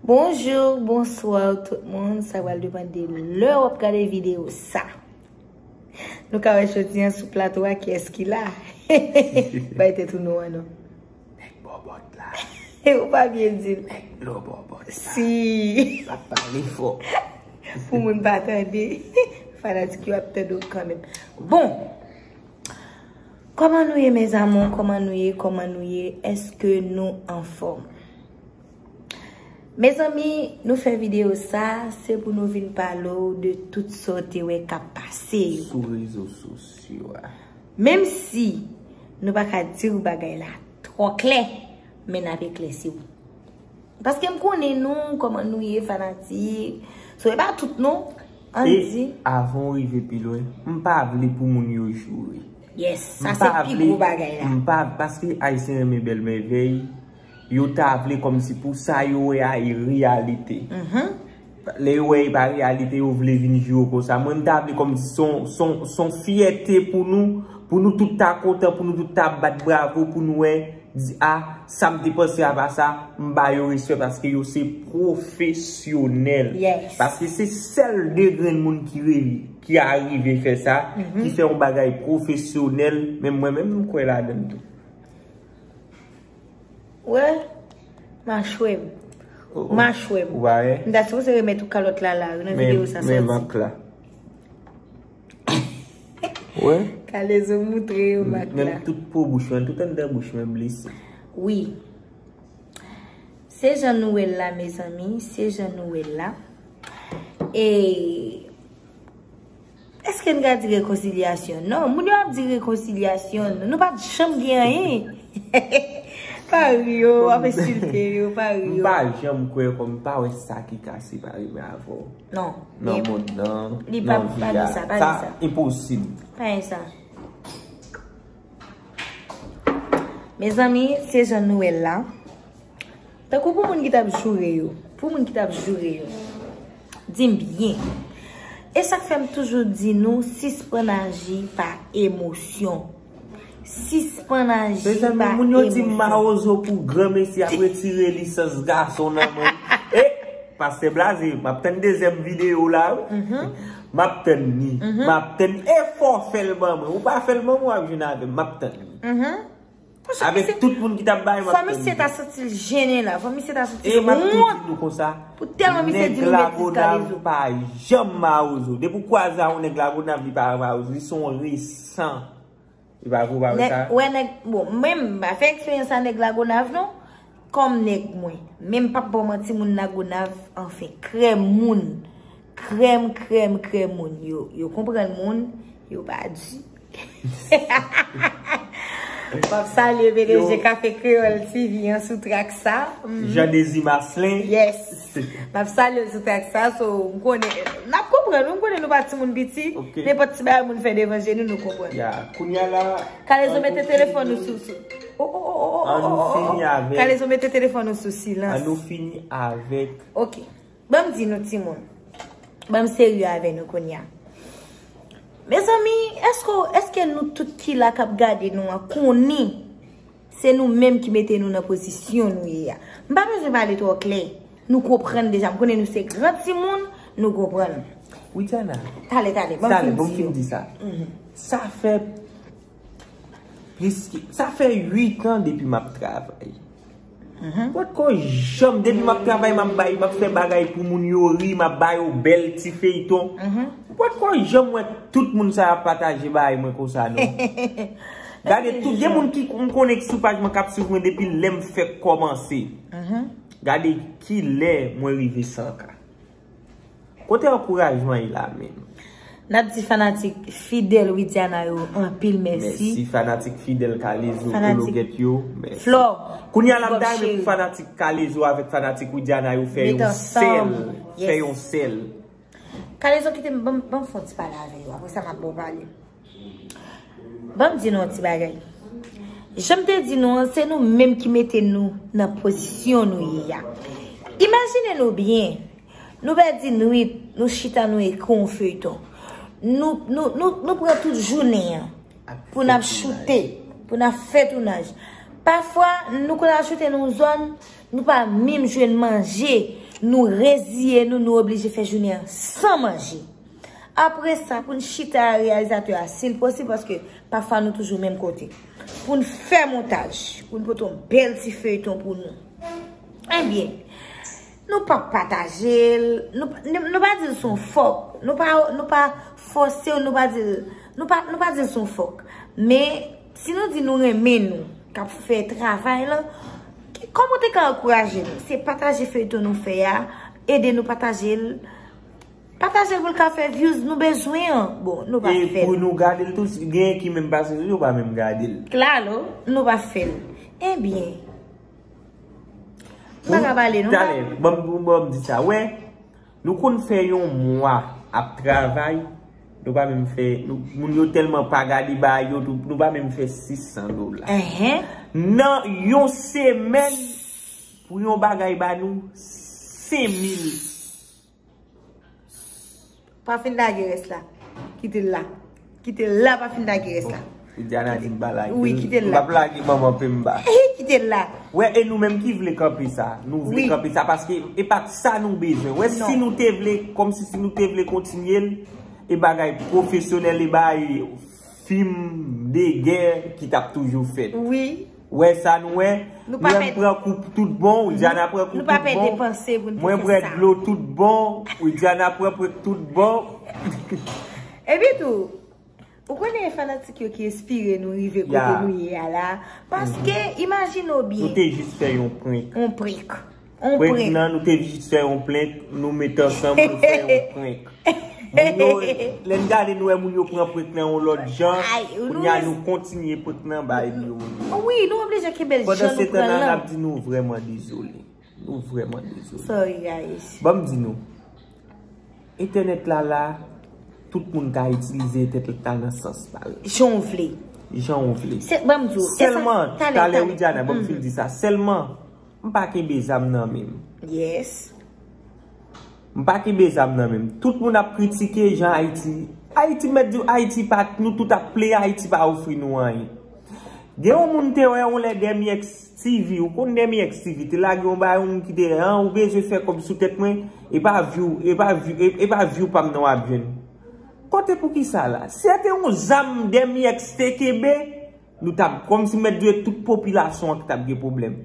Bonjour, bonsoir tout moun, sa wal depan de lè wap gade video sa. Nou ka wè choti an sou plato a ki eski la. Bay te tou nou an nou. Nèk bò bòt la. E ou pa bie di. Nèk bò bò bòt la. Si. Sa pa li fò. Pou moun pa tande. Fana di ki wap tande ou kanmen. Bon. Kòman nou ye mes amours kòman nou ye kòman nou ye eske nou anfòm mezanmi nou fè video sa se pou nou vin pale w de tout sa w te wè kap pase yo sou rezo sosyo a menm si nou pa ka di w bagay la twò klè men nap eklèsi w paske m konnen nou kòman nou ye fanatik so e pa tout non. An di. E avan ou rive pi lwen, m pa vle pou moun yo joure. Yes, sa se pi gwo bagay la. M pa vle, paske Ayisyen renmen bèl mèvèy, yo ta vle kòm si pou sa yo wè a e reyalite. Lè yo wè e pa reyalite, yo vle vin joure konsa. Mwen m ta vle kòm si son fyète pou nou, pou nou tout ta kontan, pou nou tout ta bat bravo, pou nou wè. Di a, sa m te panse apa sa, m ba yo respè paske yo se pwofesyonèl. Paske se sèl 2 grenn moun ki rele, ki arive fè sa, ki fè yon bagay pwofesyonèl, menm mwen menm m kwè ladann tou. Ou wè? Machwè m. Machwè m. Ou pa wè? M ta sipoze remèt ou kalòt la la, nan videyo sa soti. Men, men mank la. Wè? Kale zo moutre yo mak la. Menm tout po bouch mwen, tout anndan bouch mwen blese. Wi. Se jan nou wè l la mezanmi, se jan nou wè l la. E, eske n ka di rekonsilyasyon? Non, moun yo ap di rekonsilyasyon, nou pa janm gen anyen. Pa ri yo, w ap ensilte yo, pa ri yo. M pa janm kwè kòm m pa wè sa ki kase pa rive avè w. Non. Nan mond nan. Li pa di sa. Nan vi a. Pa di sa. Sa enposib. Pa di sa. Mezanmi, se jan nou el la. Tankou pou moun ki tap joure yo. Pou moun ki tap joure yo. Dim byen. E sak fem toujou di nou, sispan aji pa emosyon. Sispann aji pa emosyon. Mezanmi moun yo di mawozo pou gran mesi ap retire lisans gason nan men li. E! Pastè blaze, m ap tann dezyèm videyo la wi. M ap tann ni. M ap tann ni. E fò w fè l ban mwen. Ou pa fè l ban mwen w ap jwenn avè m. M ap tann ni. Avèk tout moun ki t ap bay m ap tann ni. Fò misye ta santi l jennen la. Fò misye ta santi l wont. E m ap tou di nou konsa. Pou tèlman misye di nou met li kalezo. Nèg lagonav pa janm mawozo. Depi w kwaze a yon nèg lagonav li pa mawozo. Li son res. San. Ou pa vle wè sa? Wè nèg, bon, mwen m pa fè eksperyans a nèg Lagonav non. Kòm nèg mwen. Men m pap ba w manti moun Lagonav anfen. Krèm moun. Krèm, krèm, krèm moun. Yo, yo konprann moun. Yo pa di. Wap salye BDG Café Creole TV an sou track sa. Jean Désir Marcelin. Yes. Map salyew sou tèks sa so m konnen nap konprann wi m konnen nou pa timoun piti nenpòt ti bagay moun fè devan je nou nou konprann ya kounya la kalezo mete telefòn ou sou sou oh oh oh oh an nou fini avèk kalezo mete telefòn ou sou silans an nou fini avèk ok banm di nou timoun banm serye avè nou kounya mezanmi eske nou tout ki la kap gade nou an konnen. Se nou menm ki mete nou nan pozisyon nou ye a. M pa bezwen pale twò klè. Nou konprann deja. M konnen nou se gran timoun, nou konprann. Widiana. Tale, tale. Bon, fin di yo. Tale, bon, fin di sa. Sa fè plis ki, sa fè 8 an depi m ap travay. Mwen poko janm, depi m ap travay, m ap bay, m ap fè bagay pou moun yo ri, m ap ba yo bèl ti feyton. Mwen poko janm wè tout moun sa y ap pataje bagay mwen konsa non. Gade tout gen moun ki m konnen ki sou paj mwen kap swiv mwen depi lèm fèk kòmanse. Gade kilè mwen rive 100 k. Kote ankourajman ye la menm. Nap di fanatik fidèl Widiana yo anpil mèsi. Mèsi fanatik fidèl Kalezo kologèt yo. Fanatik Flò. Kounya la m ta renmen pou fanatik Kalezo avèk fanatik Widiana yo fè yon sèl. Fè yon sèl. Kalezo kite m banm fon ti pale avè yo apresa map baw pale. Ban m di nou yon ti bagay. Jan m te di nou an, se nou menm ki mete nou nan pozisyon nou ye a. Imajine nou byen, nou pèdi nwit, nou chita nou ekri yon feyton. Nou pran tout jounen an pou n ap choute, pou n ap fè tounaj. Pafwa, nou konn al choute nan yon zòn, nou pa menm jwenn manje. Nou reziye nou, nou oblije fè jounen an san manje. Apre sa pou n chita a reyalizatè a si l posib paske pafwa nou toujou menm kote. Pou n fè montaj. Pou n pote yon bèl ti feyton pou nou. Ebyen. Nou pa pataje l. Nou pa di l son fòk. Nou pa fòse l. Nou pa di l. Nou pa di l son fòk. Men. Si nou di nou renmen nou. Kap fè travay la. Kòman te ka ankouraje nou. Se pataje feyton nou fè a. Ede nou pataje l. Patajel pou l ka fè views nou bezwen an bon nou pa fèl. E pou nou gadel tou si gen ki menm pase sou yo pa menm gadel. Claro nou pa fèl. Ebyen. Mpa ka pale non. Talè banm di sa wè nou konn fè yon mwa ap travay nou pa menm fè moun yo telman pa gade ba yo nou pa menm fè 600 dola. Enhen. Nan yon semèn pou yon bagay ba nou 5000 Pa fin lage res la. Kite l la. Kite l la pa fin lage res la. Ou di ana di m pa lage. Ouwi kite l la. M ap lage manman pe m ba. Ehi kite l la. Ouwe e nou menm ki vle kanpe sa. Nou vle kanpe sa paske e pat sa nou bezwen. Ouwe si nou te vle kom si si nou te vle kontinye l. E bagay profesyonel e bay film de guerre ki tap toujou fet. Ouwi. Wè sa nou wè, Mwen pran kou tout bon, Widiana pran kou tout bon, Mwen bwè dlo tout bon, Widiana pran pwèk tout bon. Epi tou, ou konnen fanatik yo ki espire nou rive kote nou ye a la, paske imajine ou byen. Nou te jis fè yon prank. Yon prank. On prank. Prank nan nou te jis fè yon prank, nou met ansanm pou fè yon prank. Moun yo, lè n gade nou wè moun yo pran prank nan yon lòt jan, kounye a nou kontinye prank nan bay li yo moun yo. Wi, nou oblije kenbe l jan nou pran lan. Pandan se tan nan ap di nou vrèman dezole. Nou vrèman dezole. Sorry guys. Ban m di nou, entènèt la la, tout moun ka itilize entènèt la nan sans pa l. Jan w vle. Jan w vle. Ban m di w. Sèlman, talè Widiana, ban m fin di sa, sèlman. M pa kenbe zam nan menm. Yes. M pa kenbe zam nan menm. Tout moun ap kritike jan Ayiti. Ayiti m mèt di w Ayiti pa nou tout ap plen Ayiti pa ofri nou anyen. Gen yon moun m te wè yon lè Dèmyèx TV ou konn Dèmyèx TV te lage yon bagay yon moun ki te wè an ou bezwen fè kòb sou tèt mwen e pa vyou e pa vyou e pa vyou pa m nan w ap jwenn. Kote pou ki sa la? Si se te yon zam Dèmyèx te kenbe. Nou tap kòm si mèt dwe tout popilasyon an ki tap gen pwoblèm.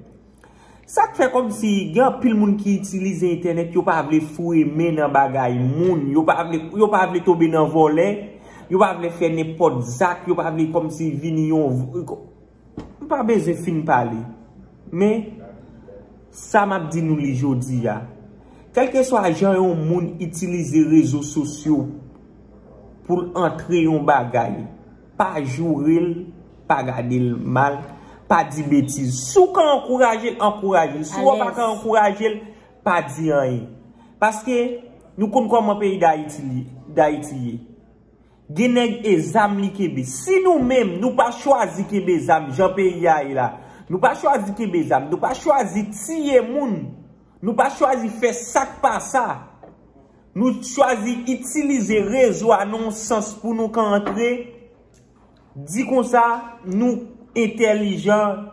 Sa k fè kòm si gen anpil moun ki itilize entènèt yo pa vle foure men nan bagay moun, yo pa vle, yo pa vle tonbe nan vòlè, yo pa vle fè nenpòt zak, yo pa vle kòm si vini yon, m pa bezwen fin pale. Men, sa m ap di nou li jodi a, kèlke swa jan yon moun itilize rezo sosyo pou l antre yon bagay, Pa joure l, pa gade l mal, pa di betiz. Si w ka ankouraje l, ankouraje l. Si w pa ka ankouraje l, pa di anyen. Paske, nou konn kòman peyi Dayiti ye. Gen nèg e zam li kenbe. Si nou menm, nou pa chwazi kenbe zam jan peyi a ye la. Nou pa chwazi kenbe zam. Nou pa chwazi tiye moun. Nou pa chwazi fè sak pa sa. Nou chwazi itilize rezo a nan yon sans pou nou ka antre, di konsa nou entèlijan,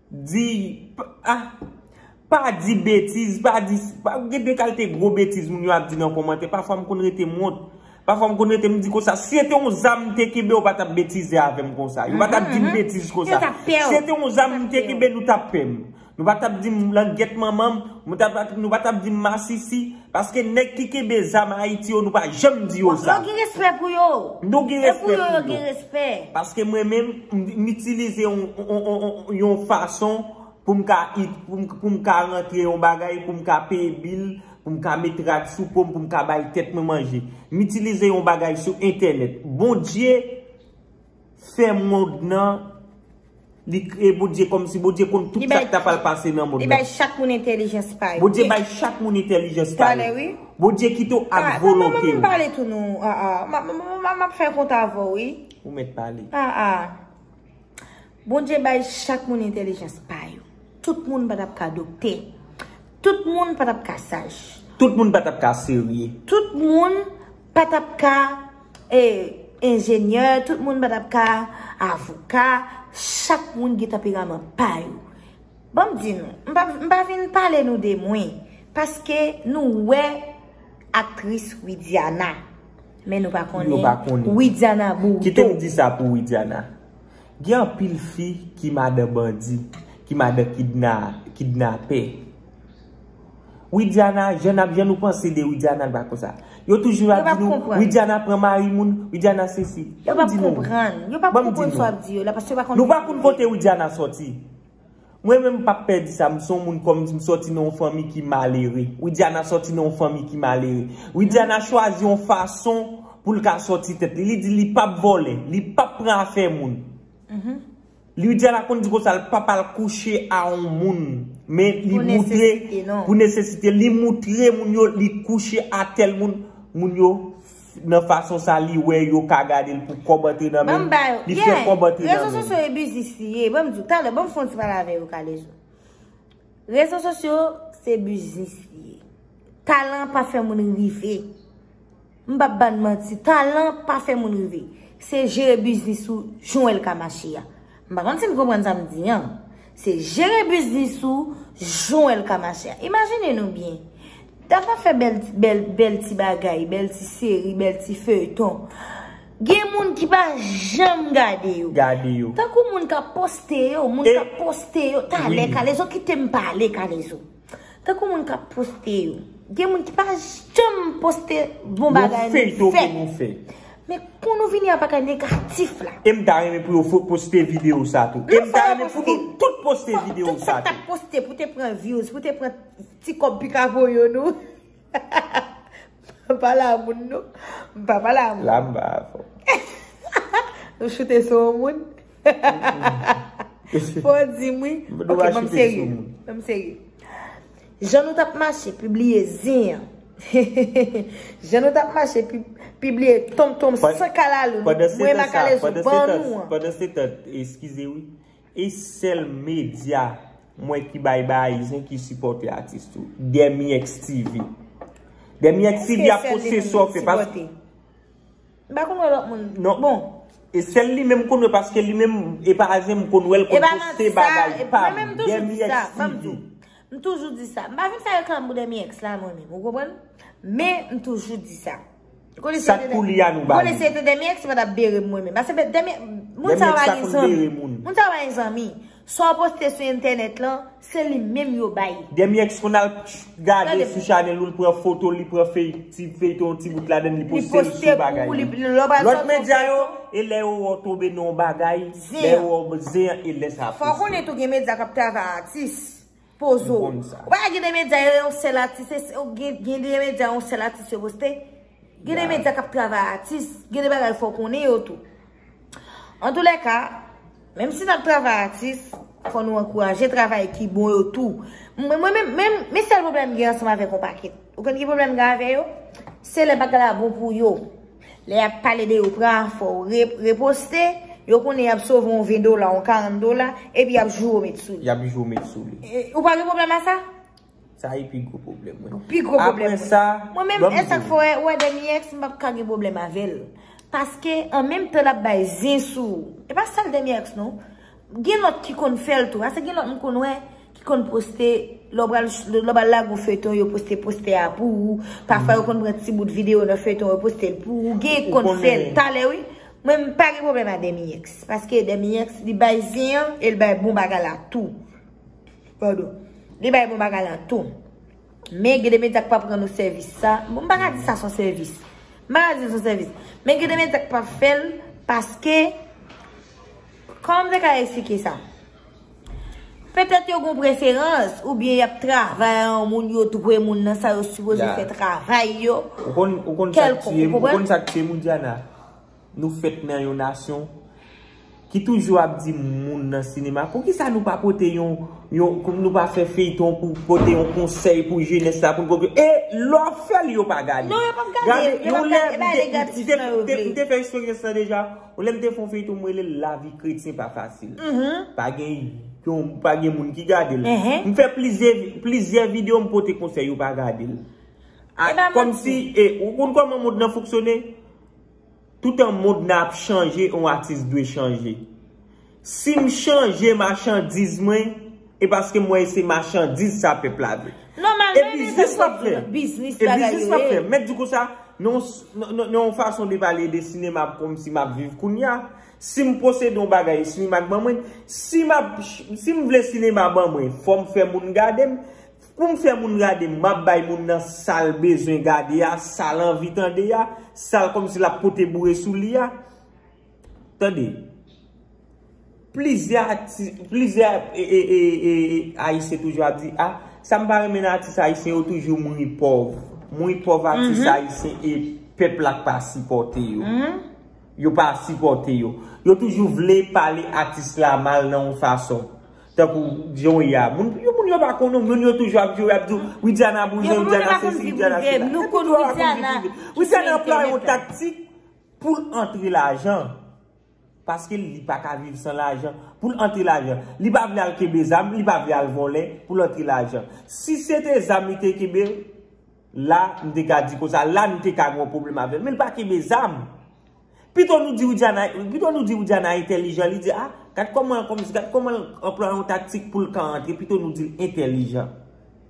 di, a, pa di betiz, pa di, gen de kalte gwo betiz moun yo ap di nan komantè, pafwa m konn rete m wont, pafwa m konn rete m di konsa, si se te yon zam m te kenbe ou pa tap betize avè m konsa, yo pa tap di m betiz konsa, si se te yon zam m te kenbe nou tap pè m, Nou pa tap dim langyèt manmanm, nou pa tap dim masisi, paske nèg ki kenbe zam Ayiti yo nou pa janm di yo sa. Yo gen respè pou yo. Nou gen respè pou yo. E pou yo yo gen respè. Paske mwen menm, m itilize yon fason pou m ka it, pou m ka rantre yon bagay, pou m ka peye bil, pou m ka met rad sou po m, pou m ka bay tèt mwen manje. M itilize yon bagay sou entènèt. Bondye. Fè mond nan Li kreye Bondye kòmsi Bondye konn tout sak ta pral pase nan mond nan. Li bay chak moun entelijans pa yo. Bondye bay chak moun entelijans pa yo. Bondye kite w ak volonte w. Mwen mwen pale tou nou. Mwen ap fè kont avè w wi. Ou mèt pale. Bondye bay chak moun entelijans pa yo. Tout moun pa tap ka dokte. Tout moun pa t ap ka saj. Tout moun pa t ap ka serye. Tout moun pa t ap ka enjenyè. Tout moun pa t ap ka avoka. Chak moun gen tanperaman pa yo. Ban m di nou, m pa vin pale nou de mwen. Paske nou wè aktris Widiana. Men nou pa konnen Widiana Bourdeau. Kite m di sa pou Widiana. Gen anpil fi ki madan bandi, ki madan kidnapè. Widiana, jan ap jan nou panse de Widiana l pa konsa. Yo toujou ap di nou, Widiana pran mari moun, Widiana se si. Yo pa konprann, yo pa konprann sa w ap di yo la, paske yo pa konn. Nou pa konn kote Widiana soti. Mwen menm m pap pè di sa, m son moun kòm di m sòti nan yon fanmi ki malere. Widiana sòti nan yon fanmi ki malere. Widiana chwazi yon fason pou l ka sòti tèt li. Li di li pap vòlè, li pap pran afè moun. Widiana konn di konsa l pap al kouche a yon moun. Men li moutre pou nesesite, li moutre moun yo li kouche a tèl moun, moun yo. nan fason sa li wè yo ka gadel pou kòb antre nan menl li fè kòb antre nan menl rezo sosyo e biznis li ye banm diw talè banm fon ti pale avè yo kalezo rezo sosyo se biznis li ye talan pa fè moun rive m pap bann manti talan pa fè moun rive se jere biznis ou jan el ka mache ya. M pa konn si n konprann sa m di an. Se jere biznis ou jan w wè l ka mache a. Imajine nou byen. Tafa fè bèl ti bagay, bèl ti seri, bèl ti feyton. Gen moun ki pa janm gade yo. Gade yo. Tankou moun k ap poste yo, moun k ap poste yo. Talè kalezo kite m pale kalezo. Tankou moun kap poste yo. Gen moun ki pa janm poste bon bagay nou fè. Yon feyton pou nou fè. Men pou nou vini ak bagay negatif la. E m ta renmen pou yo fè poste video sa tou. E m ta renmen pou nou tout poste video sa tou. Tout sa k tap poste pou te pran views, pou te pran ti kòb pika voye nou. Mpa pale a moun non. Mpa pale a moun. La mba avèw. Nou choute sou yon moun? Fò w di m wi. Mpa dwe choute sou moun. Ok, banm serye. Banm serye. Jan nou tap mache pibliye zin an. Jan nou tap mache pibliye tonmtonm san kalalou. Mwen makalèzou ban nou an. Pandan se tan, eskize wi. E sel media m wè ki bay bay ayizyen ki sipote atis tou. Dèmiyex TV. Dèmiyex TV ap poste sa w fè pa. M pa konn wè lot moun. Non bon. E sel li menm m konn wè paske li menm e pa azyen m konn wè l konn poste bagay pa. Mwen menm toujou di sa. Banm di. M toujou di sa. M pa vin fè reklam pou dèmiyex la mwen menm. Ou konprann? Men m toujou di sa. Sak pou li a nou ba li. Kole se te demi ex mwen tap bere mwen menm. Ase bet demi. Moun sa va gen zanmi. Moun sa va gen zanmi. Sa w poste sou entenet lan. Se li menm yo bay. Demi ex moun al gade sou chanel ou li pran foto li pran fey ti fey ton ti bout laden li poste l sou bagay. Li poste pou li. Lot medya yo. E le yo ou tobe nan bagay. Zen. Le yo ou zen e le sa poste. Fok ou net ou gen medya kap travay atis. Pozo. Ou konn sa. Ou pa wè gen de medya yo yon sèl atis e se gen de medya yon sèl atis yo poste? Gen de medya kap travay a atis, gen de bagay fò konnen yo tou. An tou lè ka, menm si nap travay a atis, fò nou ankouraje travay ki bon yo tou. Mwen menm, menm, men sèl pwoblèm gen ansanm avèk yon pakèt. Ou konn ki pwoblèm gen avè yo? Se lè bagay la bon pou yo. Lè yap pale de yo pran a fò ou reposte, yo konnen yap sove yon 20 dola, yon 40 dola, epi yap joure met sou li. Yap joure met sou li. Ou pa gen pwoblèm a sa? Sa e pi gwo pwoblèm mwen. Pi gwo pwoblèm mwen. Apre sa, banm di. Mwen menm e sak fè ou wè dènye ex m pap ka gen pwoblèm avèl. Paske an menm tan lap bay zen sou ou. E pa sèl dènye ex non. Gen lòt ki konn fèl tou. Ase gen lòt m konn wè ki konn poste lè w pral lè w pral lage yon feyton yo poste postè a pou ou. Pafwa yo konn pran ti bout videyo nan feyton yo poste l pou ou. Gen konn fèl talè wi. Mwen m pa gen pwoblèm a Demiyex. Paske Demiyex li bay zen an e l bay bon bagay la tou. Pardon. Li bay bon bagay la tou. Men gen de medya k pap rann ou sèvis sa. M pa ka di sa son sèvis. M pa ka di l son sèvis. Men gen de medya k pap fèl paske. Kòman m te ka esplike sa? Petèt yo gen yon preferans oubyen y ap travay a yon moun, yo dwe moun nan sa yo sipoze fè travay yo. Ou konn sa k tiye m? Ou konn sa k tiye m ou Diana? Nou fèt nan yon nasyon ki toujou ap di moun nan sinema poukisa nou pa pote yon, poukisa nou pa fè feyton pou pote yon konsèy pou jenès la pou l konprann. E lè w ap fè l yo pa gade. Non yo p ap gade. Gade yon lè m te fè eksperyans sa deja. Ou lèm te fon feyton m relel lavi kretyen pa fasil pa gen yon pa gen moun ki gadel m fè plizye plizye video m pote konsèy yo pa gadel a kòmsi e ou konn kòman mond nan fonksyone toutan mond nan ap chanje yon atis dwe chanje Sim chanje machandiz mwen e paske m wè se machandiz sa pèp la vle. E biznis wap fè? E biznis wap fè? Mèt di konsa nan yon fason de pale de sinema kòm si map viv kounya. Sim posede yon bagay sinema k ban mwen. Sim vle sinema ban mwen fòm fè moun gade m. Poum fè moun gade m map bay moun nan sal bezwen gade a, sal anvi tande a, sal kòm si lap pote boure sou li a. Tande, plizyè atis, plizyè ayisyen toujou ap di, ah, sa m pa renmen nan atis ayisyen yo toujou mouri pòv. Mouri pòv atis ayisyen e pèp la pa sipòte yo. Yo pa sipòte yo. Yo toujou vle pale atis la mal nan yon fason. Tankou, di yon ya. Moun yo moun yo pa konnen, moun yo toujou ap di, ap di, Widiana bouzen, Widiana sesi, Widiana sela. Yo moun yo pa konn viv Widiana. Yo toujou ap konn viv Widiana. Widiana pran yon taktik. Poul antre lajan. Paske li pa ka viv san lajan. Poul antre lajan. Li pa vle al kenbe zam, li pa vle al vòlè poul antre lajan. Si se te zam li te kenbe, la m te ka di konsa, la nou te ka gen yon pwoblèm avè l. Men li pa kenbe zam. Pito nou di Widiana, pito nou di Widiana entèlijan, li di a, gad kòman, gad kòman l anplwaye yon taktik poul ka antre, pito nou di l entèlijan.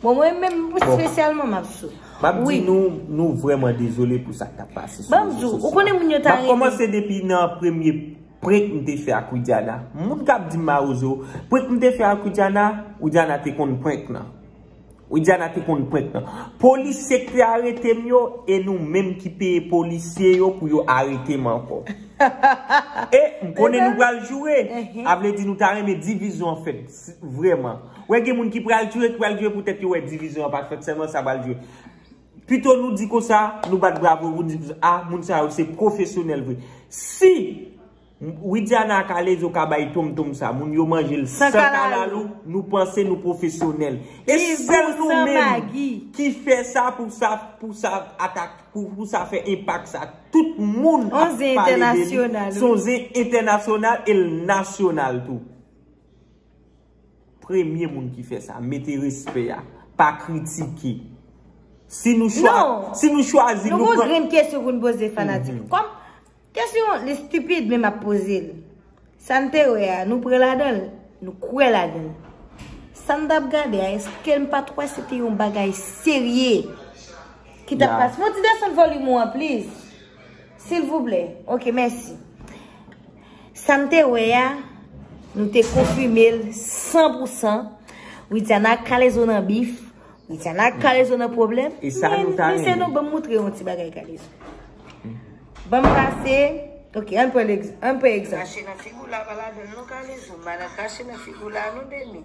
Bon mwen menm spesyalman map sou. Map di nou nou vreman dezole pou sak tap pase sou. Banm zou, ou konen moun yo ta reme. Map komanse depi nan premye prank m te fè ak Widiana. Moun kap di m marozo, prank m te fè ak Widiana, Widiana te konn prank nan. Widiana te konn prank nan. Polisye ki te arete m yo, e nou menm ki peye polisye yo pou yo arete m anko. E m konen nou pral joure. A vle di nou ta reme divizyon fèt. Vreman. Wè gen moun ki pral jwe, ki pral jwe pou tèt yo wè divizyon an pa fèt sèlman sa pral jwe. Pito nou di konsa, nou bat bravo pou nou di konsa, a moun sa yo se pwofesyonèl vre. Si Widiana ak Alezo ka bay Tom Tom sa, moun yo manje l san kalalou, nou panse nou pwofesyonèl. E sèl nou menm ki fè sa pou sa pou sa atak, pou sa fè enpak sa. Tout moun ap pale de li. Son zen entènasyonal e l nasyonal tou. Premye moun ki fè sa. Mete respè a. Pa kritike. Si nou chwa. Non. Si nou chwazi. Nou pran. Nou gen kesyon pou nou poze fanatik. Kom. Kesyon li stupid men map poze l. Sa n te wè a. Nou pre la dan l. Nou kwe la dan l. Sa m tap gade a. Eske m pat wè se te yon bagay serye. Ki tap pase. Mwen ti desann volume ou an please. Silvouplè. Ok mèsi. Sa m te wè a, nou te konfime l san pou san, Widiana ak Kalezo nan bif, Widiana ak Kalezo nan pwoblèm, men mesye nou ban m moutre yon ti bagay Kalezo. Ban m pase, ok, an pran egzanp. Krache nan figi w la pa ladan l non Kalezo, madan krache nan figi w la non Deni.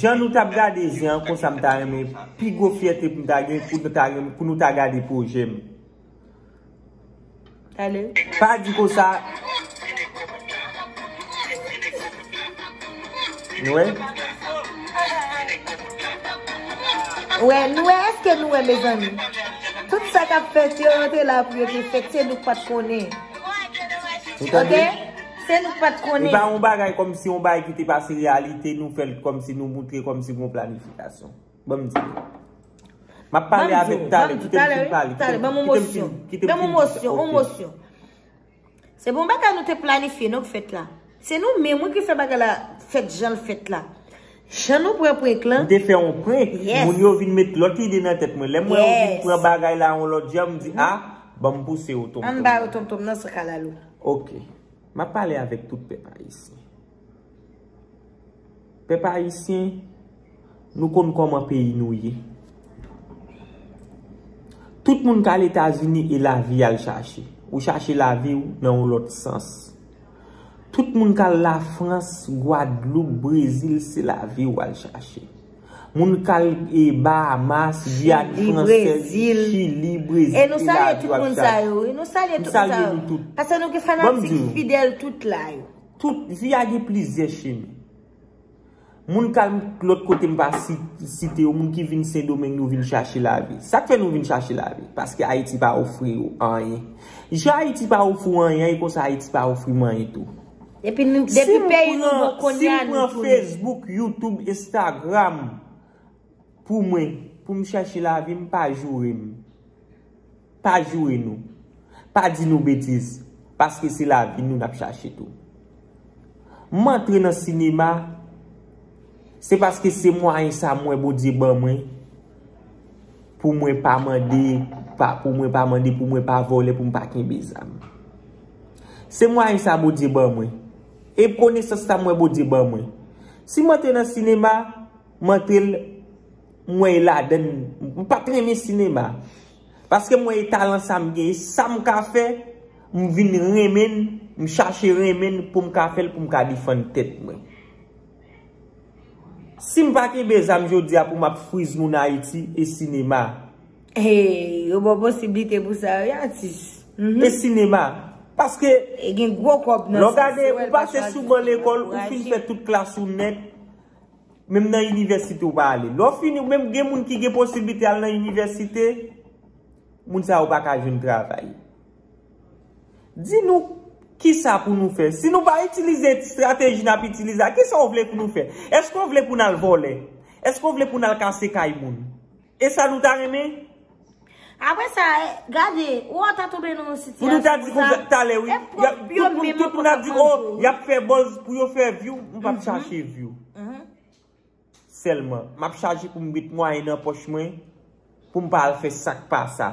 Jan nou tap gade zen an konsa m ta renmen pi gwo fyète pou m ta gen pou nou ta renmen pou nou ta gade projè m. Pa di konsa. Nou wè? Ou wè, nou wè, eske nou wè mezanmi? Tout sa kap fèt yo yo te la pou yo te fèt se nou k pat konnen. Ok? Se nou pat konnen. E pa yon bagay kòmsi yon bagay ki te pase reyalite nou fè l kòmsi nou moutre kòmsi gon planifikasyon. Ban m di w. M ap pale avèk talè. Kite m fin pale. Talè, ban m yon mosyon. Kite m fin pale. Ban m yon mosyon. Yon mosyon. Se bon bagay nou te planifye non k fèt la. Se nou menm wi ki fè bagay la fèt jan l fèt la. Jan nou pran prenk lan. M te fè yon prenk. Yes. Moun yo vin met lòt ide nan tèt mwen. Yes. Lè mwen yo vin pran bagay la yon lòt jan m di a, ban m pouse yo tonton. An m ba yo tonton m nan san kalalou. Ok. Map pale avèk tout pèp ayisyen. Pèp ayisyen, nou konn kòman peyi nou ye. Tout moun kal Etazini e lavi yal chache. Ou chache lavi ou nan yon lòt sans. Tout moun kal la Frans, Gwadloup, Brezil se lavi ou al chache. Moun kal e Bahamas, Guyane française, Chili, Brésil, e nou salye tout moun sa yo wi, nou salye tout moun sa yo, pase nou gen fanatik fidèl tout la yo. Tout, vi a gen plizyè chemen. Moun kal lòt kote m pa site yo, moun ki vin Sendomeng yo vin chache la vi. Sak fè nou vin chache la vi? Paske Ayiti pa ofri yo anyen. Jan Ayiti pa ofri w anyen, e konsa Ayiti pa ofri m anyen tou. Depi nou depi peyi nou bon konya nou tounen. Si m pran Facebook, YouTube, Instagram pou mwen, pou m chèche lavi m pa joure m. Pa joure nou. Pa di nou betiz. Paske se lavi nou n ap chache tou. M antre nan sinema, se paske se mwayen sa m wè Bondye ban mwen. Pou mwen pa mande, pou mwen pa mande, pou mwen pa vole, pou mwen pa kenbe zam. Se mwayen sa Bondye ban mwen. E konesans sa mwen Bondye ban mwen. Si mwen te nan sinema, mwen te mwen la den. Mwen pa te renmen sinema. Paske mwen e talan sa mwen gen. E sa mwen ka fe, mwen vin renmen, mwen chache renmen pou mwen ka fel, pou mwen ka defan tet mwen. Sim pa kenbe zam jodia pou map friz moun ayiti e sinema. Hey yo baw posibilite pou sa wi atis. E sinema. Paske. E gen gwo kob nan sa. Lò gade ou pase sou ban lekol ou fin fè tout klas ou nèt. Menm nan inivèsite ou pa ale. Lò fini ou menm gen moun ki gen posibilite al nan inivèsite. Moun sa yo pa ka jwenn travay. Di nou kisa pou nou fè. Si nou pa itilize strateji nap itilize a, kisa ou vle pou nou fè? Eske ou vle pou nal vòlè? Eske ou vle pou nal kase kay moun? E sa nou ta renmen? Apre sa, gade, ou ata toube nan yon sitiyasyon sa. Pou nou ta di pou talè wi. E pwòp yo menm. Tout moun tout moun ap di, oh, yap fè bòz pou yo fè vyou. Mwen pap chache vyou. Sèlman. M ap chaje pou m met mwayen nan pòch mwen pou m pa al fè sa k pa sa.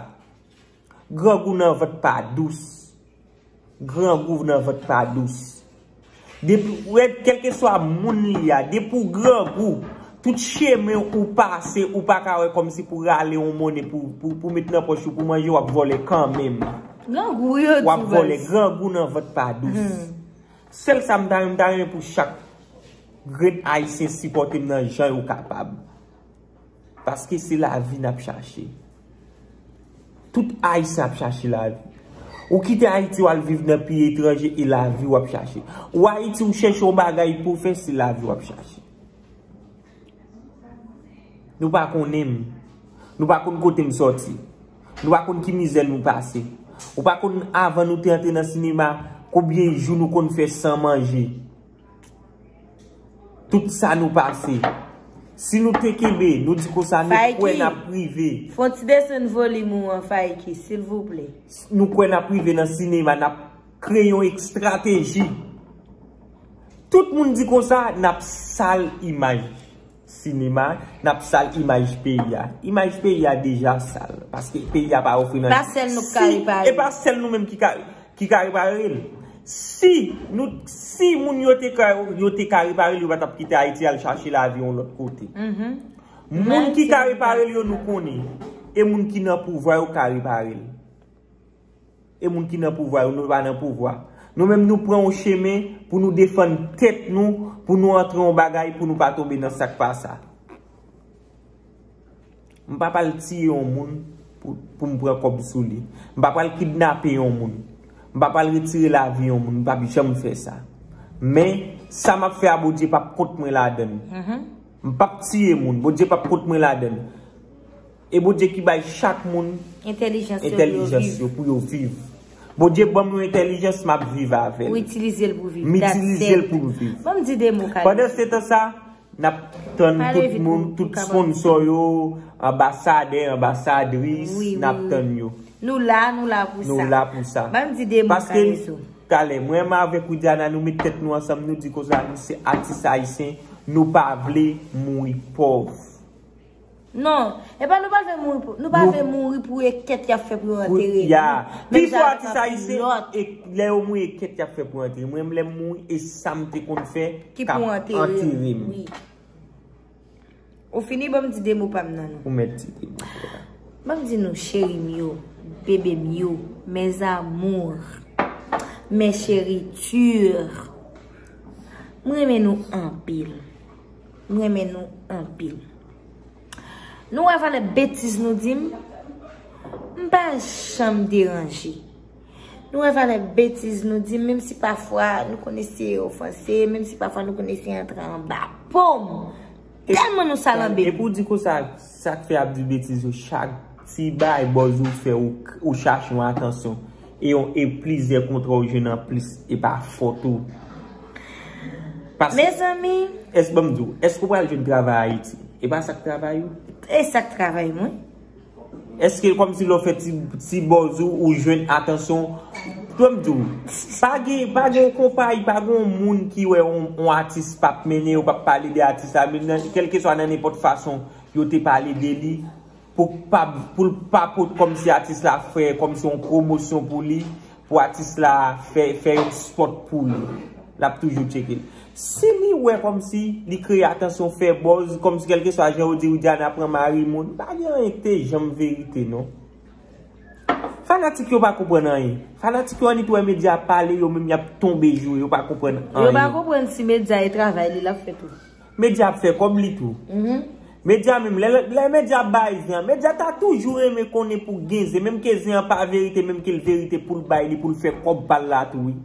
Grangou nan vant pa dous. Grangou nan vant pa dous. Depi ou wèd kèlkeswa moun li a, depi ou grangou, tout chemen ou pase ou pa ka wè kòmsi pou rale yon monnen pou met nan pòch ou pou manje w ap vòlè kanmenm. Grangou yo tou baz. W ap vòlè. Grangou nan vant pa dous. Sel sa m ta renmen m ta renmen pou chak grenn ayisyen sipòte m nan jan yo kapab paske se lavi nap chache tout ayisyen ap chache lavi ou kite ayiti wal viv nan peyi etranje e lavi wap chache ou ayiti ou chèche yon bagay pou w fè se lavi wap chache. Nou pa konnen m. Nou pa konn kote m soti. Nou pa konn ki mizè nou pase. Ou pa konn avan nou te antre nan sinema, konbyen jou nou konn fè san manje. Tout sa nou pase. Si nou te kenbe, nou di kon sa nou kwen na prive. Fayky, fon ti desen volim ou an Fayky, silvouple. Nou kwen na prive nan sinema, na kreye yon ekstrateji. Tout moun di konsa nap sal imaj sinema, nap sal imaj peyi a. Imaj peyi a deja sal. Paske peyi a pa ofri nan. Pa sèl nou ki ka repare. E pa sèl nou menm ki ka repare l. Si nou, si moun yo te ka, yo te ka repare l, yo pa tap kite Ayiti al chache lavi yon lòt kote. Moun ki ka repare l yo nou konnen. E moun ki nan pouvwa yo ka repare l. E moun ki nan pouvwa yo, nou pa nan pouvwa. Nou menm nou pran yon chemen pou nou defann tèt nou, pou nou antre yon bagay pou nou pa tonbe nan sak pa sa. M pa pral tiye yon moun pou m pran kòb sou li. M pa pral kidnape yon moun. M pa pral retire lavi yon moun. M pa pi janm fè sa. Men, sa m ap fè a Bondye pa p kont mwen ladan. M pa p tiye moun. Bondye pa p kont mwen ladan. E Bondye ki bay chak moun entelijans yo pou yo viv. Bondye banm yon entelijans map viv avèl. Ou itilize l pou viv. M itilize l pou m viv. Banm di de mo kale. Pandan se tan sa, nap tann tout moun, tout sponsor yo, anbasade, anbasadris, nap tann yo. Nou la, nou la pou sa. Nou la pou sa. Banm di de mo kale sou. Paske, kale, mwen ma avèk Widiana, nou met tèt nou ansanm, nou di konsa, nou se atis ayisyen, nou pa vle mouri pov. Non, epa nou pa vle mouri pou, nou pa vle mouri pou ekèt yap fè pou yo antere nou. Ya, pi fò atis ayisyen, lè yo mouri ekèt yap fè pou yo antere. Mwen menm lèm mouri, e sam te konn fè, kap antere m. Ou fini banm di 2 mo pam nan nou. Ou mèt di 2 mo pam nan. Banm di nou cheri m yo, bebe m yo, mes amours, mes cheritures. M renmen nou anpil. M renmen nou anpil. Nou wè valè betiz nou di m? M pa janm deranje. Nou wè valè betiz nou di m? Menm si pafwa nou konn eseye ofanse, menm si pafwa nou konn eseye antre anba po m. Tèlman nou salanbe. E pou di konsa, sa k fè y ap di betiz yo chak ti bay bòz ou fè ou chache yon atansyon. E yon e plizyè kontra ou jwenn anplis e pa fòt ou. Mezanmi. Èske banm di w, èske ou pral jwenn travay Ayiti? E pa sa k travay ou? E sa k travay mwen? Èske kòm si lè w fè ti bòz ou, ou jwenn atansyon? Tande m di w, pa gen, pa gen yon konpayi, pa gen yon moun ki wè yon atis pa p mennen, yo pa p pale de atis la, menm nan, kèlkeswa nan nenpòt fason yo te pale de li. Pou pa pou l pa pot kòmsi atis la fè kòmsi yon pwomosyon pou li pou atis la fè fè yon spòt pou li. L ap toujou tcheke l. Si li wè kòmsi li kreye atansyon fè bòz kòmsi kèlkeswa jan yo di Widiana pran mari moun pa gen anyen k te janm verite non. Fanatik yo pa konprann anyen. Fanatik yo annik wè medya ap pale yo menm y ap tonbe joure yo pa konprann anyen. Yo pa konprann si medya e travay li l ap fè tou. Media ap fè kòb li tou. Media menm lè media ap bay zen an media ta toujou renmen konnen pou gen zen menm ke zen an pa verite menm ke l verite pou l bay li pou l fè kòb pa l la tou wi.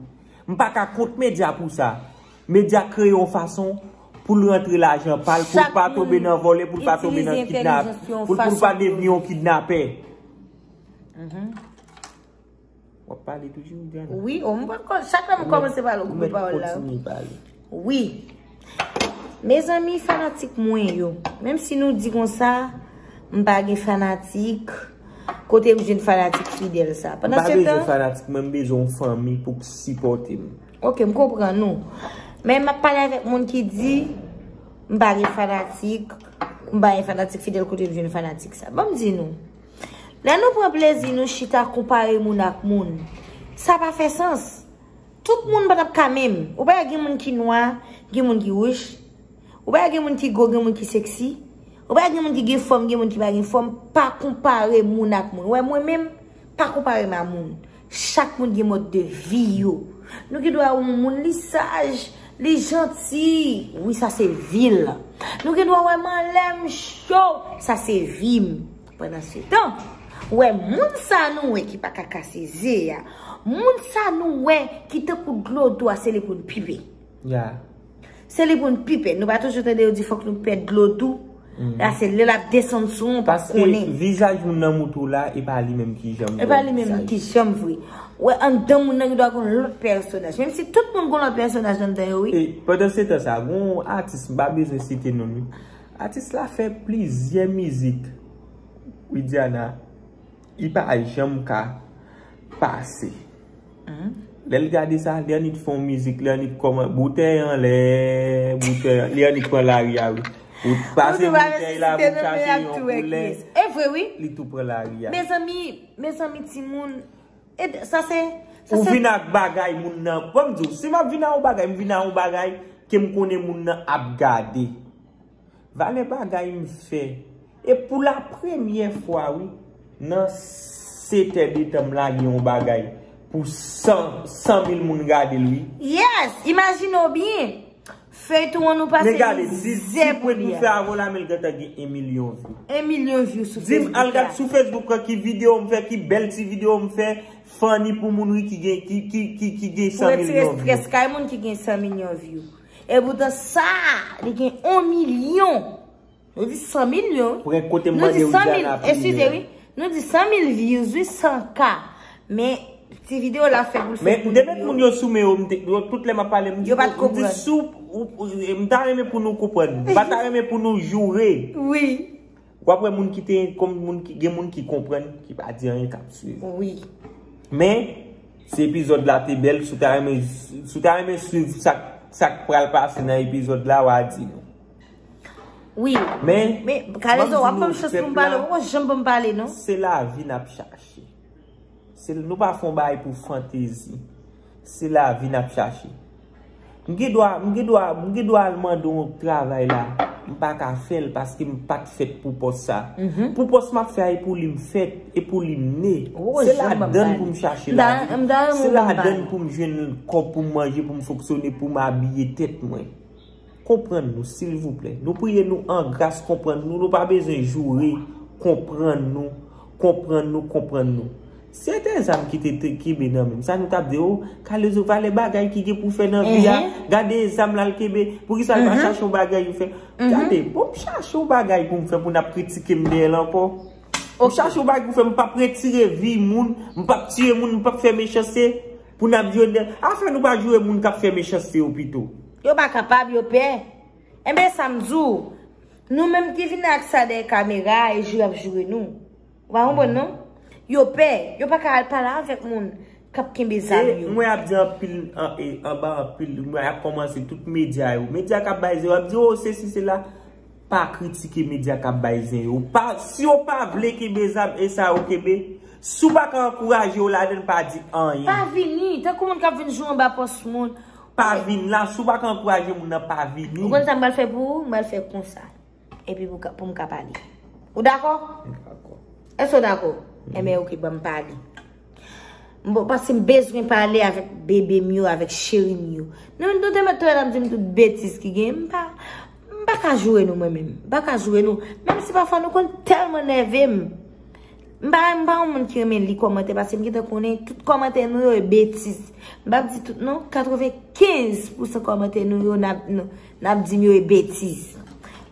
M pa ka kont media pou sa. Media kreye yon fason pou l rantre lajan pa l pou l pa tonbe nan vòlè pou l pa tonbe nan kidnap pou l pa devni yon kidnapè. Wap pale toujou Diana? Wi, oh mwen pa konn, chak lè mwen komanse pale ou koupe pawòl la. Ou mèt kontinye pale. Wi. Mezanmi fanatik mwen yo, menm si nou di konsa, m pa gen fanatik, kote m jwenn fanatik fidèl sa? M pa bezwen fanatik mwen, m bezwen yon fanmi pou k sipòte m. Ok, m konprann ou. Men m ap pale avèk moun ki di, m pa gen fanatik, m pa gen fanatik fidèl kote m jwenn fanatik sa? Banm di nou. Lè nou pran plezi nou chita konpare moun ak moun, sa pa fè sans. Tout moun pa t ap ka menm. Ou pa wè gen moun ki nwa, gen moun ki wouj. Ou pa wè gen moun ki gwo, gen moun ki seksi. Ou pa wè gen moun ki gen fòm, gen moun ki pa gen fòm. Pa konpare moun ak moun. Ou wè mwen menm, pa konpare m a moun. Chak moun gen mòd de vi yo. Nou gen dwa wè yon moun li saj, li janti. Wi sa se vi l. Nou gen dwa wè m anlè, m cho. Sa se vi m. Pandan se tan, wè moun sa nou wè ki pa ka kase ze a. Moun sa nou wè ki tankou dlo do a se li pou n pipe. Ya. Se li pou n pi pè. Nou pa toujou tande yo di fòk nou pè dlo dou. La se lè l ap desann sou ou pa konnen. Paske vizaj moun nan moute w la e pa li menm ki janm vre. E pa li menm ki janm vre. Wè anndan moun nan ki dwa goun lòt pèsonaj. Menm si tout moun goun lòt pèsonaj anndan yo wi. E pandan se tan sa goun atis m pa bezwen site non li. Atis la fè plizyè mizik. Widiana. Li pa janm ka pase. Lè l gade sa, li annik fè yon mizik, li annik kòman, boutèy anlè, boutèy anlè, li annik pran lari a wi. Ou pase boutèy la, ou chache yon koulè. E vre wi. Li tou pran lari a. Mezanmi, mezanmi ti moun. E sa se. Ou vin ak bagay moun nan. Bon m di w, si m ap vin ak yon bagay, m vin ak yon bagay ke m konnen moun nan ap gade. Valè bagay m fè. E pou la premyè fwa wi nan 7 è de tan m lage yon bagay pou 100 mil moun gade l wi. Yes! Imajine w byen! Feyton an nou pase mizè pou li a. Men gade, si se pou et nou fè avè w la men l gentan gen 1 milyon vyou. 1 milyon vyou sou Facebook la. Di m al gad sou Facebook lan ki videyo m fè, ki bèl ti videyo m fè, funny pou moun wi ki gen 100 milyon vyou. Pou retire stress kay moun ki gen 100 milyon vyou. E poutan sa li gen 1 milyon. Nou di 100 milyon. Prenk kote m mande ou Diana priye. Eskize wi. Nou di 100 mil views wi 100 ka. Men ti video la fè pou l fè pou l. Men demet moun yo sou men yo m te. Tout lè m ap pale m di. Yo pa t konprann. M di sou. M ta renmen pou nou konprann. M pa ta renmen pou nou joure. Wi. Wap wè moun ki te konm moun ki gen moun ki konprann ki pa di anyen kap swiv. Wi. Men si epizòd la te bèl si w ta renmen si w ta renmen swiv sak sak pral pase nan epizòd la wa di nou. Wi. Men. Men kalezo wap banm chans pou m pale ou poko janm banm pale non. Se lavi nap chache. Se nou pa fon bay pou fantezi. Se lavi nap chache. M gen dwa, m gen dwa, m gen dwa al mande yon travay la. M pa ka fè l paske m pat fèt pou pòs sa. Pou pòs map fè a e pou li m fèt, e pou li m ne. Se ladann pou m chache lavi. Se ladann pou m jwenn kòb pou m manje, pou m fonksyone, pou m abiye tèt mwen. Konprann nou silvouplè. Nou priye nou an gras konprann nou. Nou pa bezwen joure. Konprann nou. Konprann nou, konprann nou. Si se te zam ki te kenbe nan men m. Sa nou tap di oh. Kalezo valè bagay ki gen pou fè nan vi a. Gade zam la l kenbe. Pou ki sa l pa chache yon bagay pou fè. Gade bon m chache yon bagay pou m fè pou n ap kritike m deyè l ankò. M chache yon bagay pou fè m pap retire vi moun. M pap tiye moun. M pap fè mechanste. Pou n ap di yo deyè. Afè nou pa joure moun kap fè mechanste yo pito. Yo pa kapab, yo pè. Enben sa m di w, nou menm ki vini ak sa dèyè kamera a e jou y ap joure nou. Ou pa konprann non. Yo pè. Yo pa ka al pale avèk moun k ap kenbe zam yo. E mwen ap di anpil, anba anpil, mwen ap kòmanse tout medya yo. Medya k ap bay zen yo ap di w, o sesi sela. Pa kritike medya k ap bay zen yo. Si yo pa vle kenbe zam, e sa yo kenbe. Si w pa ka ankouraje yo ladan l, pa di anyen. Pa vini. Tankou moun k ap vin jwe anba pòs moun. Pa vin la, si w pa ka ankouraje moun nan pa vini. Ou konn sa m pral fè pou ou? M pral fè konsa. Epi pou m ka pale. Ou dakò? M dakò. Èske ou dakò? Enben oke, ban m pale. Paske m bezwen pale avèk bebe m yo, avèk cheri m yo. Nou te mèt touyèl ap di m tout betiz ki gen. M pa, m pa ka joure nou mwen menm. M pa ka joure nou. Menm si pafwa nou konn tèlman nève m. M pa renmen m pa yon moun ki renmen li kòmantè paske m gentan konnen tout kòmantè nou yo e betiz. M pap di tout non, 95 pou san kòmantè nou yo nap di m yo e betiz.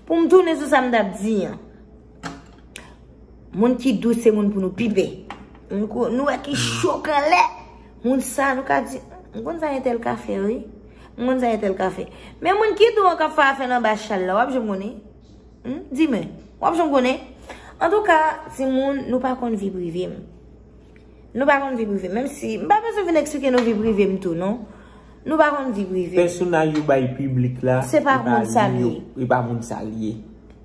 Pou m tounen sou sa m tap di an. Moun ki dous se moun pou nou pi pè. Nou wè ki cho kanlè. Moun sa nou ka di, m konn sa entèl ka fè wi. M konn sa entèl ka fè. Men moun ki dou an kap fè afè l anba chal la wap janm konnen. Hum, di mwen, w ap janm konnen? Antouka, timoun, nou pa konn vi prive m. Nou pa konn vi prive m. Menm si, m pa bezwen vin eksplike nou vi prive m tou non. Nou pa konn vi prive m. Pèsonaj yo bay piblik la, e pa li yo, e pa moun sa l ye.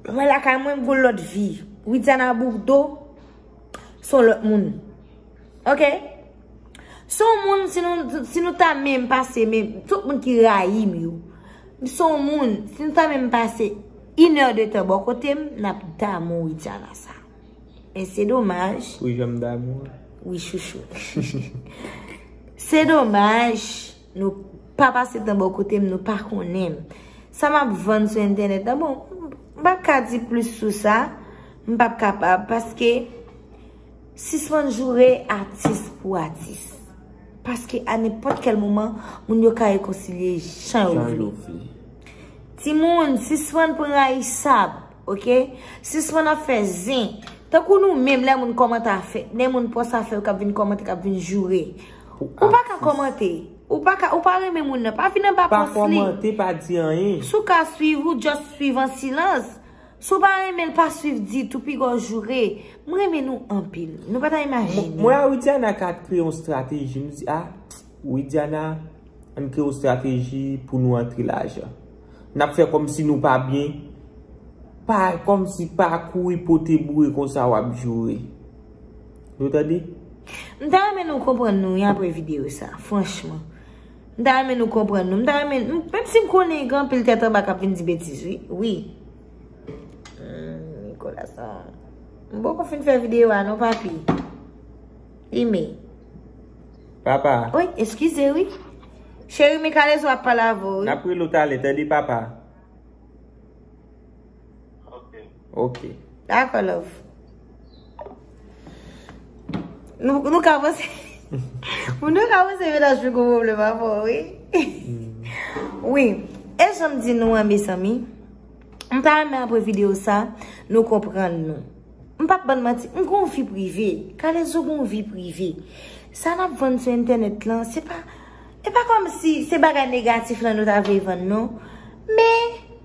Mwen lakay mwen, m goun lòt vi. Widiana Bourdeau. Son lòt moun. Ok? Son moun, si nou ta menm pase menm, tout moun ki rayi m yo. Son moun, si nou ta menm pase inè de tan bò kote m, n ap damou Widiana sa. Men se domaj. Ou janm damou? Wi chouchou. Se domaj. Nou pa pase tan bò kote m, nou pa konnen m. Sa m ap vann sou entènèt la, bon, m pa ka di plis sou sa, m pa p kapab, paske sispann joure atis pou atis. Paske a nenpòt kèl moman, moun yo ka rekonsilye jan yo vle. Ti moun, sispann pran rayisab, ok? Sispann ap fè zen. Tankou nou menm lè moun kòmantè a fè, lè moun pòs a fè, yo k ap vin kòmantè, k ap vin joure. Ou pa ka komante. Ou pa ka, ou pa renmen moun nan. Pa vin anba pos li. Pa komante, pa di anyen. Si w ka swiv ou, just swiv an silans. Si w pa renmen l, pa swiv ditou. Pi gwa w joure. M renmen nou anpil. Nou pa ta imajine. Mwen a Widiana ka kre yon strateji. M di a, Widiana, an kre yon strateji pou nou antre lajan. N ap fè kom si nou pa byen. Pa, kom si pa kouri pote boure konsa w ap joure. Nou tande? M ta renmen nou konprann nou wi apre videyo sa. Franchman. M ta renmen nou konprann nou. M ta renmen. Menm si m konnen gen anpil tèt anba k ap vin di betiz wi. Wi. Humm Nicolas sa. M poko fin fè videyo a non papi. Ime. Papa. Oi eskize wi. Cheri me kalezo ap pale avè w wi. N ap rele w talè tande papa. Ok. Dakò love. Nou ka panse... Moun nou ka panse menaj mwen gwo pwoblèm avè w, wi. Wi. E jan m di nou an, mezanmi, m ta renmen apre videyo sa, nou konprann nou. M pap bann manti, m gen yon vi prive. Kalezo gen yon vi prive. Sa n ap vann sou entènèt lan, se pa... E pa kòmsi se bagay negatif lan nou ta vle vann non. Men...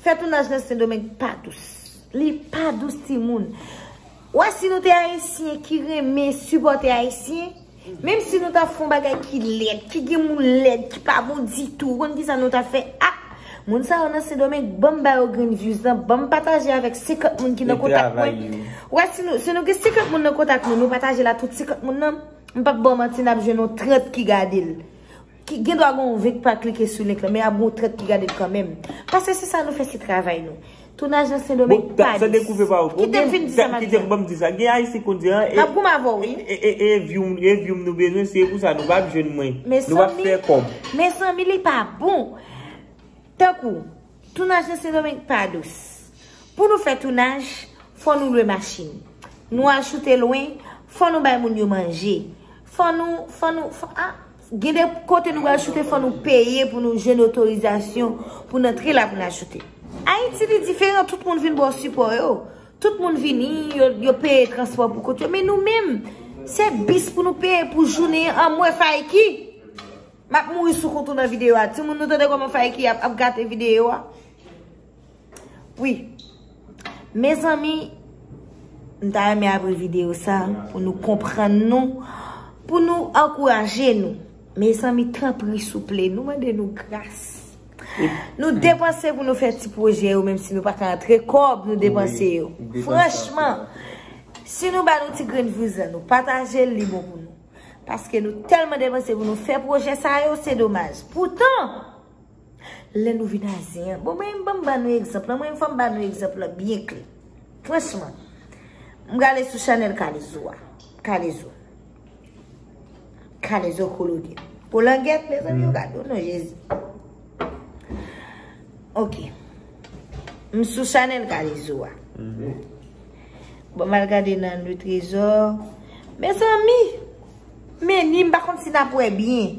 Fè tounaj nan sendomeng pa dous. Li pa dous ti moun. Wè si nou te ayisyen ki renmen sipote ayisyen. Menm si nou ta fon bagay ki lèd. Ki gen moun lèd. Ki pa bon di tou. Ou konn ki sa nou ta fè. A! Moun sa yo nan sendomeng. Banm ba yo grenn views nan. Banm pataje avèk 50 moun ki nan kontak mwen. Wè si nou. Si nou gen 50 moun nan kontak mwen. Nou pataje la tout 50 moun nan. M pap baw manti nap jwenn yon 30 ki gadel. Gen dwa gen yon vek pa klike sou link lan men ap gen yon trèt ki gade l kanmenm. Paske se sa nou fè se travay nou. Tounaj nan Sendomeng pa lous. Kite m fin di sa m ap di an. Gen Ayisyen konn di an. M ap goumen avè w wi. E vyoum nou bezwen se pou sa nou pa ap jwenn mwen. Nou pa ap fè kòb. Mezanmi li pa bon. Tankou tounaj nan Sendomeng pa dous. Pou nou fè tounaj fò nou lwe machin. Nou achoute lwen fò nou bay moun yo manje. Fò nou fò nou fò a. Gen de kote nou pral choute fò nou peye pou nou jwenn otorizasyon pou n antre la pou n al choute. Ayiti li diferan, tout moun vin ba w sipò yo. Tout moun vini, yo peye transpò pou kont yo. Men nou menm, se bis pou nou peye pou jounen an. Anmwe Fayky! M ap mouri sou kont ou nan videyo a. Timoun nou tande kòman Fayky ap gate videyo a? Wi. Mezanmi, m ta renmen apre video sa pou nou konprann nou, pou nou ankouraje nou. Mezanmi, tanpri souple, nou mande nou gras. Nou depanse pou nou fè ti pwojè yo, menm si nou pa ka antre kòb, nou depanse yo. Franchman, si nou ba nou ti grenn vouzan, nou pataje li bon pou nou. Paske nou telman depanse pou nou fè pwojè sa yo, se domaj. Poutan! Lè nou vin aze an. Bon mwen mwen ban nou egzanp la. Mwen fòm ban nou egzanp la byen kle. Franchman. Mwen gale sou chanel kalezo a. Kalezo. Kalezo kolode. Kolangèt mwen zan yon gado nou jezi. Ok. Mwen sou chanel kalezo a. Mhm. Bon mwen gade nan nou trezor. Mwen zan mi. Meni mwen bakon si nan pwe byen.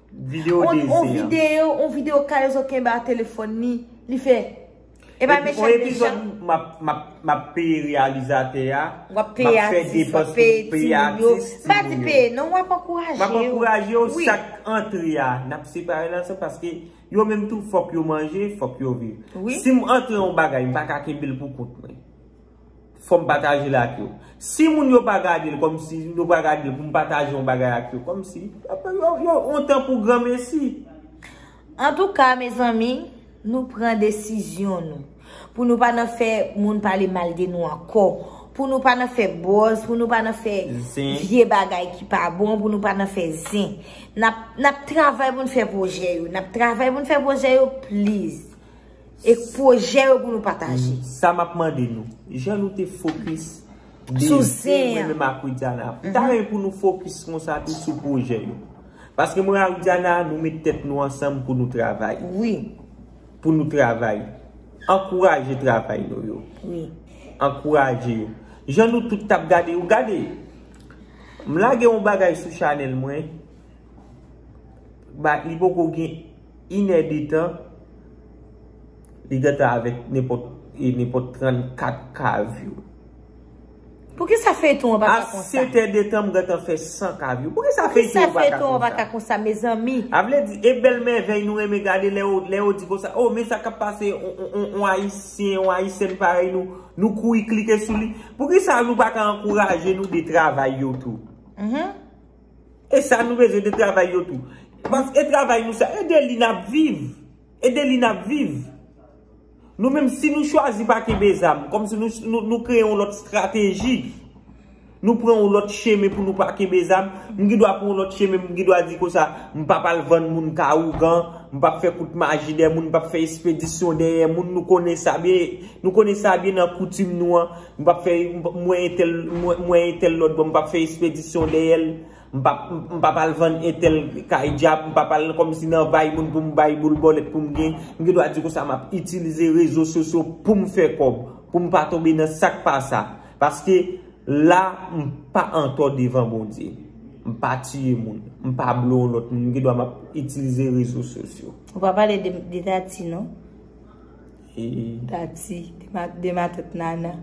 Video dezi an. On video, on video K-Lezo kenbe a telefon ni, li fe. E pa mechan mechan. On epizod map peye realizate a. Wap peye atis, wap peye ti yo. Ba di peye, non wap ankouraje yo. Wap ankouraje yo, sak antre a. Nap separe nan se paske yo menm tou fok yo manje, fok yo viv. Si m antre yon bagay, m pa ka kenbe l pou kout mwen. fòm pataje l ak yo. Si moun yo pa gade l kòm si yo pa gade l pou m pataje yon bagay ak yo kòm si yo ontan pou granmesi. Antouka mezanmi nou pran desizyon nou pou nou pa nan fè moun pale mal de nou ankò, pou nou pa nan fè bòz, pou nou pa nan fè vye bagay ki pa bon, pou nou pa nan fè zen. Nap travay pou n fè pwojè yo, nap travay pou n fè pwojè yo please. E pwojè yo pou nou pataje. Sa map mande nou. Jan nou te fokis. Sou zen an. Mwen menm ak Widiana. Mwen ta renmen pou nou fokis konsa tou sou pwojè yo. Paske mwen ak Widiana nou met tèt nou ansanm pou nou travay. Wi. Pou nou travay. Ankouraje travay nou yo. Wi. Ankouraje yo. Jan nou tout tap gade yo. Gade. M lage yon bagay sou chanel mwen. Ba li poko gen. Inè de tan, li gentan avèk nenpòt e nenpòt 34 kavyou. Poukisa feyton an pa ka konsa. A 7 è de tan m gentan fè 100 kavyou. Poukisa feyton an pa ka konsa. Poukisa feyton an pa ka konsa mezanmi. A vle di e bèl mèvèy nou renmen gade lè yo lè yo di konsa oh men sa kap pase on ayisyen on ayisyèn parèy nou nou kouri klike sou li. Poukisa nou pa ka ankouraje nou de travay yo tou. E sa nou bezwen de travay yo tou. Pask e travay nou sa e de li nap viv. E de li nap viv. Nou menm si nou chwazi pa kenbe zam. Kom si nou kreye yon lot strateji. Nou pran yon lot chemen pou nou pa kenbe zam. M gidwa pran yon lot chemen. M gidwa di konsa. M pap al vann moun ka ougan. M pap fe kout maji de moun. M pap fe espedisyon deye moun. Nou konnen sa byen. Nou konnen sa byen nan koutim nou an. M pap fè m wè entèl m wè entèl lòt bò m pap fè espedisyon dèyè l m pap m pap al vann entèl kay dyab m pap al kòmsi nan vay moun pou m bay boul bòlèt pou m gen m gen dwa di konsa m ap itilize rezo sosyo pou m fè kòb pou m pa tonbe nan sa k pa sa paske la m pa antò devan Bondye m pa tiye moun m pa blo yon lòt moun m gen dwa m ap itilize rezo sosyo. Ou pa pale de Tati non. Tati, de matant nana.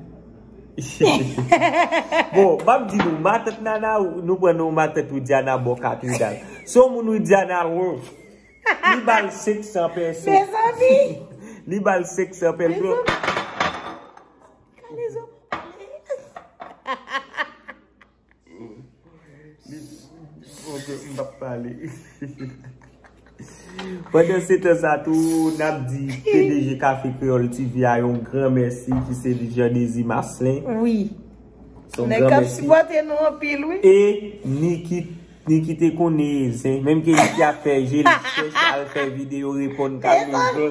Bon, map di nou, matant nana ou, nou pran nou matant widiana bon katredal. Se yon moun widiana wou. Li bal 500 peso. Mezanmi! Li bal 500 peso. Mezanmi! Kalezo! Pandan se tan sa tou, n ap di pdg Café Creole TV a yon gran mèsi ki se li Jean Désir Marcelin. Wi. Son gran mèsi. Nèg k ap sipòte nou anpil wi. E Niki, Niki te konnen zen. Menm ke Niki ap fè je li chèch al fè videyo reponn Carlito.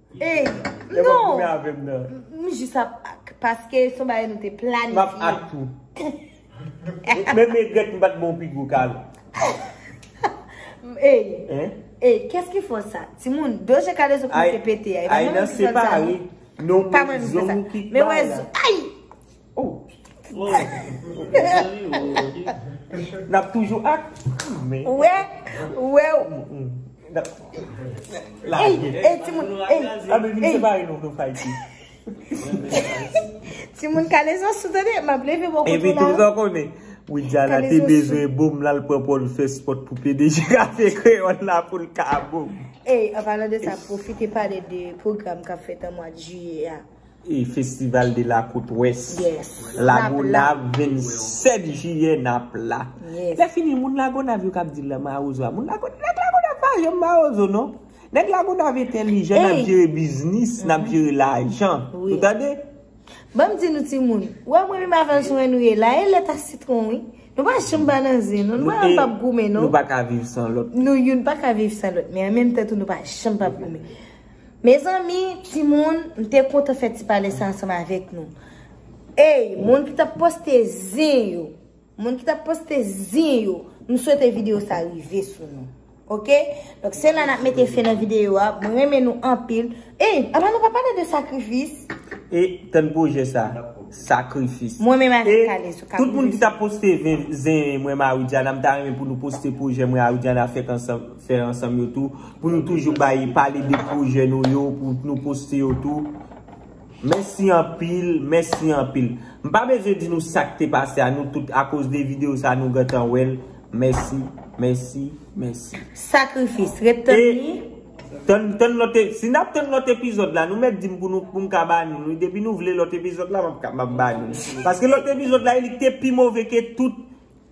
Ey, non! Epa goumen avèm nan. M jis ap ak, paske son bagay nou te planifye. Map ak tou. Menm egret m pat bon pi gwo ka nou. Ey, ey, kès ki fò sa? Ti moun, do je kade zo koumen se pete a. Ay nan separe, non mwen zonw ki k bay la. Oh Nap toujou ak Ou wè Ou wè Ey ti moun Ti moun kalezo sou tande Map leve bon kote la Epi tout an konnen Widya la te bezwen bom la l pran pòl fè spòt pou pede je kafe kreyòl la pou l ka bom Ey anpalan de sa pwofite pale de pwogram kap fèt an mwad jiyè a. Festival de la Côte Ouest Lagonav 27 jiyè nap la Lè fini moun Lagonav yo kap di la mawozo a Moun Lagonav nèg Lagonav pa janm mawozo non Nèg Lagonav entèlijan nap jere biznis nap jere lajan Ou tande Banm di nou timoun Ou wè mwen menm avèl sou ennou ye la e lèt a sitron wi Nou pa janm ba nan zen non Nou pa janm goumen non Nou youn paka viv san lòt men anmenm tan tou nou pa janm pap goumen. Mezanmi timoun m te kontan fè ti pale sa ansanm avèk nou Eyy moun ki tap poste zen yo moun ki tap poste zen yo m swete video sa rive sou nou ok donk se la nap mete fen nan video a mwen renmen nou anpil Eyy apa nou pa pale de sakrifis e tann pwojè sa sakrifis mwen menm avèk Kalezo kap rive sou nou e tout moun ki tap poste zen mwen m a Widiana m ta renmen pou nou poste pwojè mwen a Widiana fè ansanm yo tou. Pou nou toujou bay pale de pwojè nou yo pou nou poste yo tou. Mèsi anpil, mèsi anpil. M pa bezwen di nou sa k te pase a nou tout akoz de videyo sa nou gentan wè l. Mèsi, mèsi, mèsi. Sakrifis, ret tann li. Si n ap tann lòt epizòd la nou mèt di m pou nou pou m ka ba nou li. Depi nou vle lòt epizòd la m ap ba nou li. Paske lòt epizòd la e li k te pi move ke tout.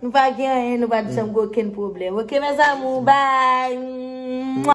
Nou pa gen anyen nou pat janm gen okenn pwoblèm ok mes amours bye.